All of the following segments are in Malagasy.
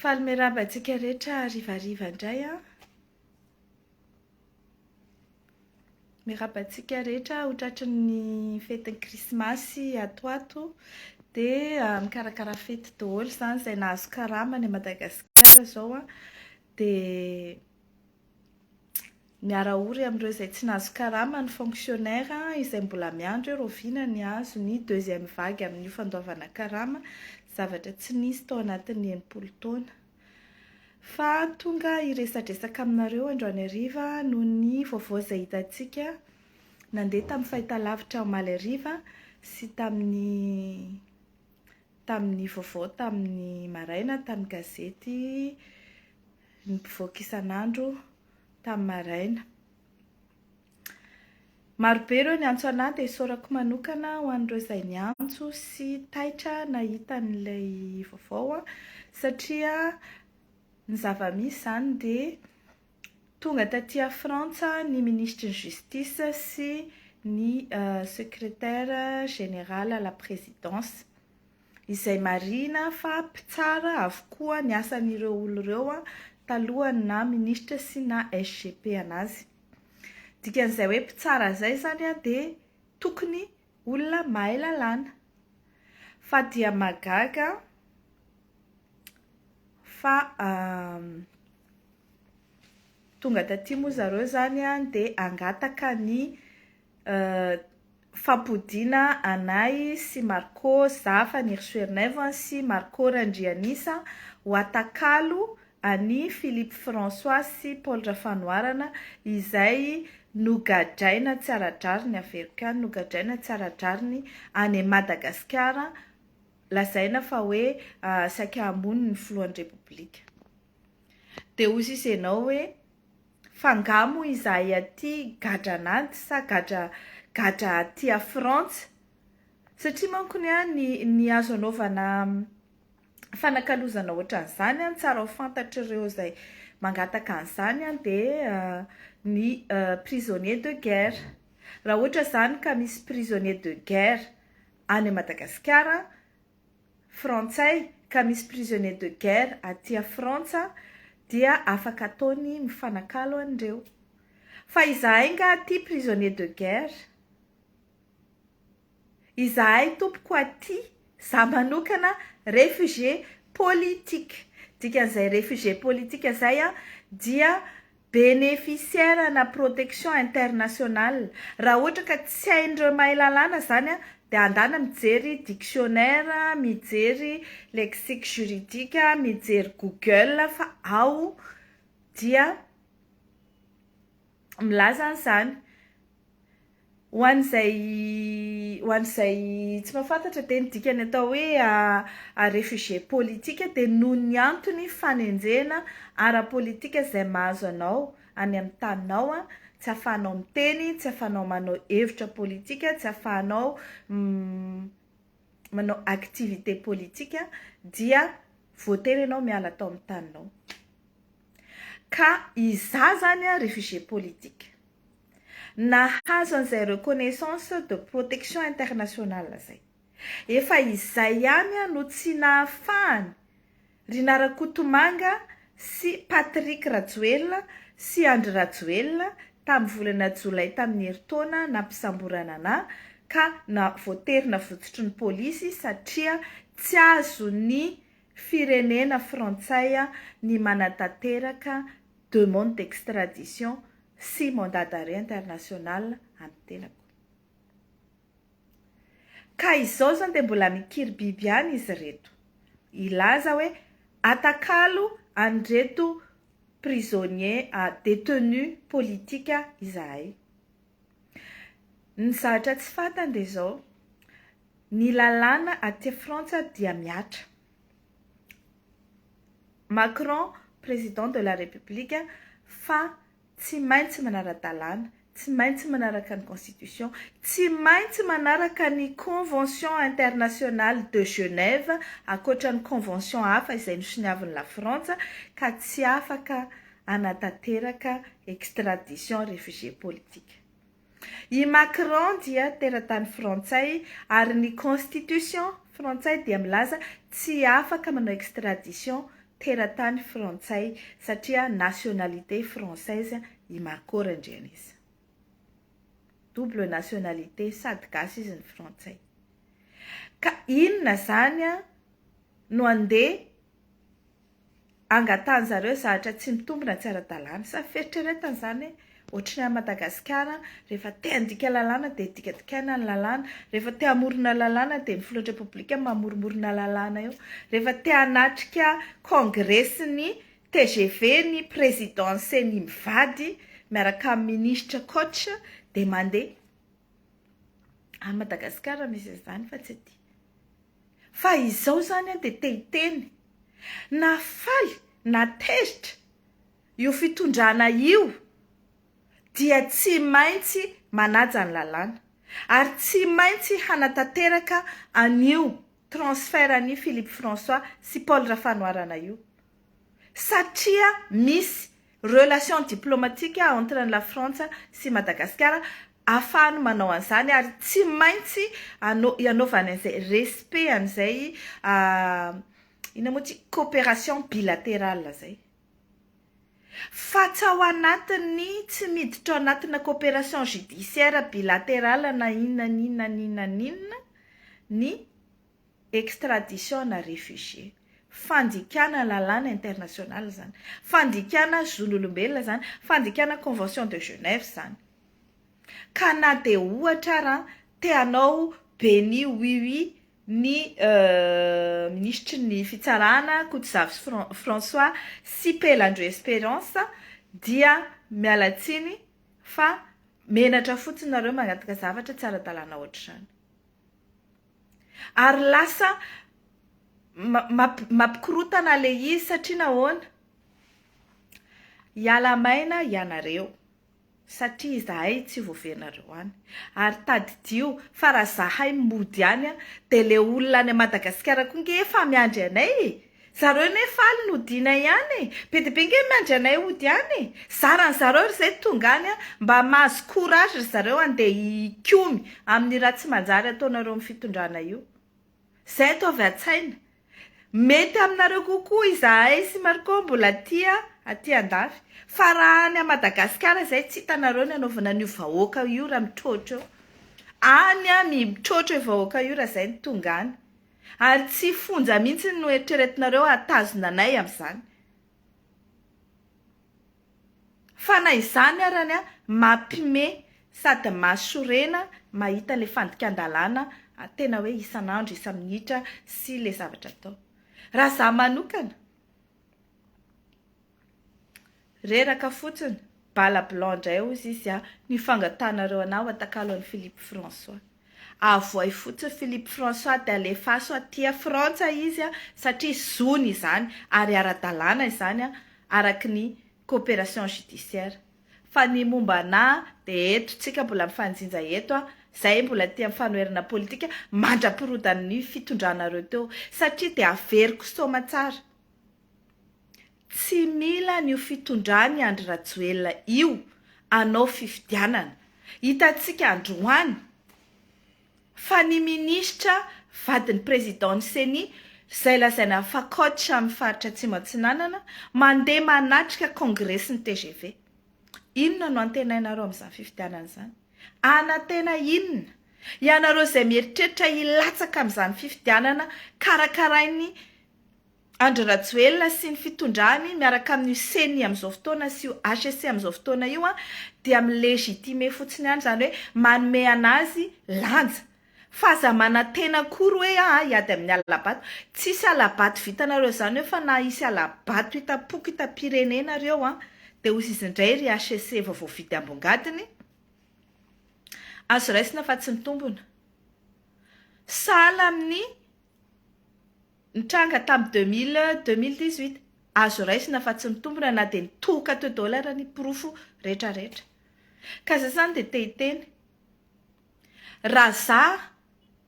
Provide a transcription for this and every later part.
Faly miarahaba antsika rehetra harivariva indray an! Miarahaba antsika rehetra ho tratry ny fetin'ny krismasy ato ato dia mikarakara fety daholo izany izay nahazo karama any Madagasikara izao an! dia Miara ory amin'ireo izay tsy nahazo karama ny fonctionnaire izay mbola miandry eo rahoviana ny hahazo ny deuxième vague amin'io fandoavana karama zavatra tsy nisy tao anatin'ny enimpolo taona fa tonga hiresadresaka aminareo androany hariva noho ny vaovao izay hitantsika nandeha tamin'ny fahitalavitra omaly hariva sy tamin'ny tamin'ny vaovao tamin'ny maraina tamin'ny gazety ny mpivoaka isan'andro tamin'ny maraina. Marobe ireo niantso anah dia isaorako manokana ho an'ireo izay niantso sy taitra nahita an'ilay vaovao satria ny zava-misy izany dia tonga taty à Frantsa ny ministry ny justice sy ny euh, secrétaire général à la présidence. izay marihina fa mpitsara avokoa ny asan'ireo olona ireo talohan'ny naha minisitra sy naha SGP anazy. Dikan'izay hoe mpitsara izay izany dia tokony olona mahay lalàna. Fa dia mahagaga fa tonga taty moa zareo izany dia hangataka ny fampodiana anay sy Marco Zafa Nirsoherinaivo sy Marco Randrianisa ho atakalo an'i Philippe François sy Paul Rafanoharana izay nogadraina tsy ara-drariny averiko ihany nogadraina tsy ara-drariny any Madagasikara lazaina fa hoe saika hamono ny filohan'ny Repoblika dia hozy izy ianao hoe Fa nga mo izahay aty gadra an'ady sa gadra gadra aty a frantsa? Satria manko ny ahy ny ny azo anaovana fanakalozana ohatran'izany an tsara ho fantatr'ireo izay mangataka an'izany an dia ny prisonnier de guerre. Raha ohatra izany ka misy prisonnier de guerre any Madagasikara an. Frantsay ka misy prisonniers de guerre aty a Frantsa dia afaka ataony mifanakalo an'ireo. Fa izahay nga aty prisonniers de guerre? Izahay tompoko aty, za manokana réfugié politique, dikan'izay réfugié politique zay an dia Bénéficiaire ana protection internationale, raha ohatra ka tsy hain'ireo mahay lalàna izany dia andana mijery dictionnaire, mijery lexique juridique, mijery google fa ao dia milaza an'izany. Ho an'izay ho an'izay tsy mahafantatra dia ny dikan'ny atao hoe a réfugié politique dia noho ny antony fanenjehana ara-politika izay mahazo anao any amin'ny taninao, tsy ahafahanao miteny, tsy ahafahanao manao hevitra politika, tsy ahafahanao manao activité politika dia voatery ianao miala ato amin'ny taninao. Ka izaho izany a réfugié politique. nahazo an'izay reconnaissance de protection internationale zay. Efa izay ihany no tsy nahafahany ry Narakotomanga sy Patrick Rajoelina sy Andry Rajoelina tamin'ny volana jolay tamin'ny herintaona nampisamborana anà ka na voatery navototry ny polisy satria tsy azony firenena frantsay ny manatanteraka demande d'extradition sy mandat d'arrêt international an'i tenako. Ka izao izany dia mbola mikiribiby ihany izy ireto, hilaza hoe atakalo an'ireto prisonniers a détenus politiques izahay. Ny zavatra tsy fantany dia izao, Ny lalàna aty Frantsa dia mihatra. Macron Président de la République fa tsy maintsy manara-dalàna, tsy maintsy manaraka ny Constitution, tsy maintsy manaraka ny Convention Internationale de Genève ankoatra ny Convention hafa izay nosoniavin'i la Frantsa ka tsy afaka hanatanteraka extradition réfugiés politiques. I Macron dia teratany frantsay ary ny constitution frantsay dia milaza tsy afaka manao extradition teratany frantsay satria nationalité française i Marco Randrianisa. Double nationalité sady gasy izy no frantsay. Ka inona zany an no andeha angatahan zareo zahatra tsy mitombina tsy ara-dalàna sa fieritreretana zany hoe ohatry ny any Madagasikara rehefa te handika lalàna dia dikadikaina ny lalàna, rehefa te hamorona lalàna dia ny filohan'ny repoblika mamoromorona lalàna eo, rehefa te hanatrika kongresin'ny tgv ny président ceni mivady miaraka amin'ny ministra coach dia mandeha, any Madagasikara misy an'izany fa tsy aty. Fa izao izany an dia te hiteny. Nafaly na tezitra io fitondrana io dia tsy maintsy manaja ny lalàna ary tsy maintsy hanatanteraka an'io transfert an'i Philippe François sy Paul Rafanoharana io. satria misy relation diplomatique entre an'i Lafrantsa sy Madagasikara afahany manao an'izany ary tsy maintsy hanaovany an'izay respect an'izay inona moa ity coopération bilatérale izay fa tsy ao anatin'ny tsy miditra ao anatina coopération judiciaire bilatérale na inona na inona na inona na inona ny extradition na refugie. Fandikana lalàna international izany. Fandikana zon'olombelona izany. Fandikana convention de Genève izany. Ka na dia ohatra ara te hanao beni oui oui ny minisitry ny fitsarana Kotozavo sy François sy Pelandro Esperance dia miala tsiny fa menatra fotsiny nareo mangataka zavatra tsy ara-dalàna ohatr'izany. Ary lasa mampikorotana le izy satria nahoana? Hiala maina ianareo satria izahay tsy voaverinareo any ary tadidio fa raha zahay mody any dia le olona any Madagasikara koa nge efa miandry anay e! Zareo ne faly ny hodiana ihany e! Be dia be nge miandry anay hody any e! Zara ny zareo ry zay tonga any a! Mba mahazo courage ry zareo handeha hikomy amin'ny raha tsy manjary ataonareo amin'ny fitondrana io! Zay ato avy an-tsaina! Mety aminareo kokoa izahay sy Marco mbola tia aty an-dafy! Fa raha any a Madagasikara zay tsy hitanareo ny anaovana an'io vahoaka io raha mitroatra eo! Any a mitroatra io vahoaka io raha zay no tonga any! Ary tsy fonja mihitsy no eritreretinareo hahatazona anay amin'izany. Fa na izany arany an, mampime sady mahasorena mahita le fandikan-dalàna tena hoe isan'andro, isa-minitra sy le zavatra atao. Raha za manokana. Reraka fotsiny, bala blanc ndray hozy izy a, ny fangatanareo anah ho atakalo an'i Philippe François. Avohay fotsiny Philippe François dia alefaso aty a Frantsa izy a, satria zony izany ary ara-dalàna izany a, araky ny coopération judiciaire fa ny momba anà de eto tsika mbola mifanjinja eto a, zay mbola tia mifanoherana politika mandrapirodan'ny fitondranareo teo satria de averiko soma tsara tsy mila an'io fitondran'i Andry Rajoelina io anao fifidianana hitantsika androany fa ny minisitra vadin'ny Présidentn'ny Ceni, izay lazaina fa coach amin'ny faritra Atsimo Atsinanana, mandeha manatrika kongresin'ny tgv. Inona no antenainareo amin'izany fifidianana izany? Anantena inona? Ianareo izay mieritreritra hilatsaka amin'izany fifidianana karakarain'ny. Andry Rajoelina sy ny fitondrany miaraka amin'io ceni amin'izao fotoana sy io HCC amin'izao fotoana io dia mi-legitimer fotsiny ihany izany hoe manome an'azy lanja fa aza manantena akory hoe aah hiady amin'ny hala-bato. Tsisy hala-bato vitanareo izany eo fa na hisy hala-bato hitam-poko hitam-pirenena ary eo dia ozy izy indray ry HCC vao voavidy ambongadiny azo raisina fa tsy mitombona. Sahala amin'ny. Nitranga tamin'ny deux mille, deux mille dix huit. Azo raisina fa tsy nitombina na dia nitohoka teo daholo ara ny porofo rehetra rehetra. Ka zay zany dia te hiteny. Raha za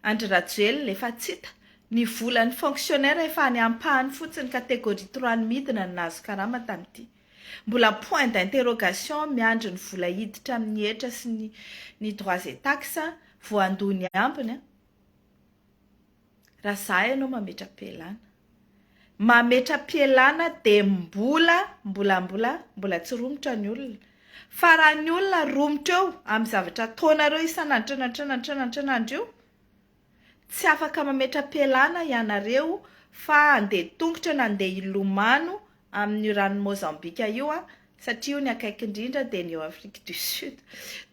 Andry Rajoelina efa tsy hita, ny volan'ny fonctionnaire efa any ampahany fotsiny catégorie trois ny midina no nahazo karama tamin'ity. Mbola point d'interrogation miandry ny vola hiditra amin'ny hetra sy ny ny droits et taxes voandoha ny ambiny an. Raha za ianao mametra-pialana. Mametra-pialana dia mbola, mbola, mbola, mbola tsy romotra ny olona. Fa raha ny olona romotra eo amin'ny zavatra ataonareo isan'andro isan'andro isan'andro isan'andro io, tsy afaka mametra-pialana ianareo fa handeha tongotra na handeha hilomano amin'io ranon'i Mozambika io aho satria io ny akaiky indrindra dia ny eo Afrique du Sud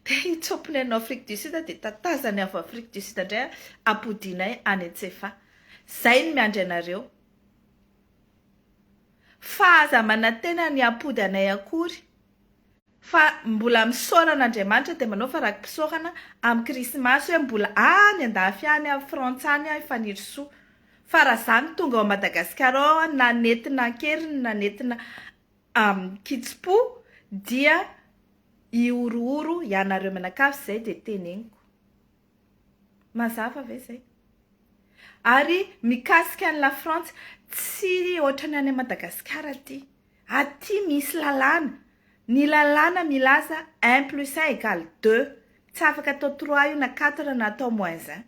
dia io tsompinay no Afrique du Sud dia tatazany avy Afrique du Sud indray ampodianay any Antsefa zay no miandry anareo fa aza manantena ny hampody anay akory Fa mbola misaorana Andriamanitra dia manao fa raki-pisaorana amin'ny Krismasy hoe mbola any an-dafy any, any Frantsa any aho i Fanirisoa. Fa raha izaho no tonga ao Madagasikara ao aho na nentina an-keriny na nentina amin-kitsim-po dia hihorohoro ianareo mianakavy izay dia teneniko. Mazava ve zay? Ary mikasika an'i La Frantsa, tsy ohatran'ny any Madagasikara aty. Aty misy lalàna, ny lalàna milaza un plus un égale deux, tsy afaka atao trois io na quatre na atao moins un.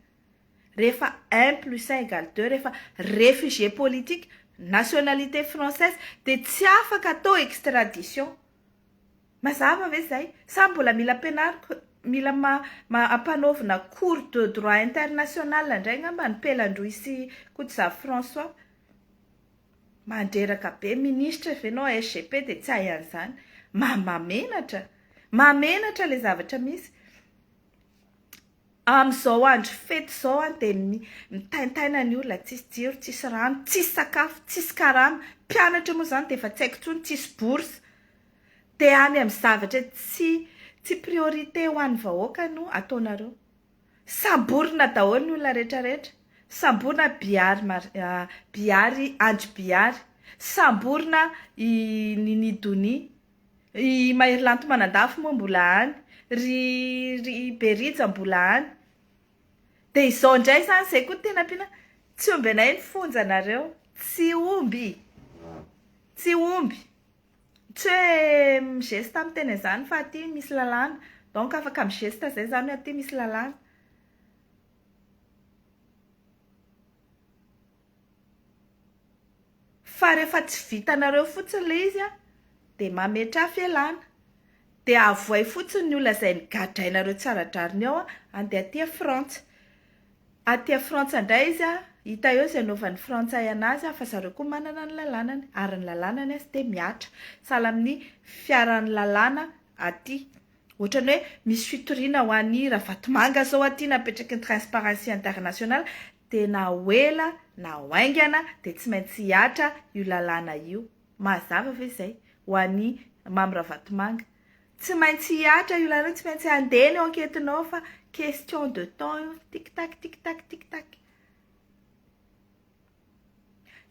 Rehefa un plus un égale deux, rehefa réfugié politique, nationalité française dia tsy afaka atao extradition. Mazava ve izay? Sa mbola mila ampianariko, mila ampanaovina cours de droit international indray angamba ny Pelandroy sy Kotozafy François? Mandreraka be, ministra ve ianao, SGP dia tsy ahy an'izany. Mahamenatra! Mahamenatra ilay zavatra misy. Amin'izao andro fety izao dia mitaintaina ny olona, tsisy jiro, tsisy rano, tsisy sakafo, tsisy karama, mpianatra moa izany dia efa tsy haiko intsony, tsisy bourse. Dia any amin'ny zavatra tsy tsy priorité ho an'ny vahoaka no ataonareo. Samborina daholo ny olona rehetra rehetra, samborina Bihary Mar Bihary Andry Bihary, samborina i Nini Donia. I Maherilanto Manandafy moa mbola any, ry ry Be Rija mbola any. Dia izao indray izany, izay koa no tena ampiana, tsy omby anay ny fonjanareo. Tsy omby, tsy omby. Tsy hoe mi-geste aho miteny an'izany fa aty misy lalàna. Donc afaka mi-geste izay izany hoe aty misy lalàna. Fa refa tsy vitanareo fotsiny le izy a de mametraha fialana de avohay fotsiny ny olona zay nigadrainareo tsy ara-drariny ao a ande aty a frantsa aty a frantsa ndray izy a hita eo zay anaovan'ny frantsay anazy a fa zareo koa manana ny lalanany ary ny lalanany azy de mihatra sahala amin'ny fiaran'ny lalàna aty Ohatran'ny hoe misy fitoriana ho an'i Ravatomanga zao aty napetraky ny Transparency International dia na ho ela na ho haingana dia tsy maintsy hihatra io lalàna io. Mahazava ve izay ho an'i Mamy Ravatomanga? Tsy maintsy hihatra io lalàna io, tsy maintsy handeha ny enquête-nao fa question de temps io, tic tac, tic tac, tic tac.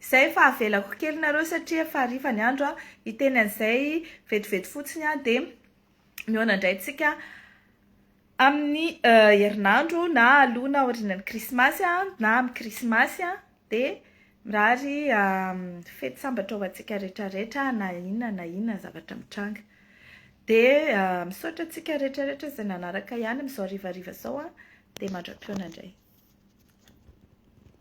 Izay efa avelako kely nareo satria efa hariva ny andro an, hiteny an'izay vetivety fotsiny aho dia mihaona indray antsika amin'ny herinandro na aloha na aorianan'ny krismasy an, na amin'ny krismasy an, dia mirary fety sambatra ho antsika rehetra rehetra na inona na inona ny zavatra mitranga. Dia misaotra antsika rehetra rehetra izay nanaraka ihany amin'izao harivariva izao an, dia mandra-pihaona indray.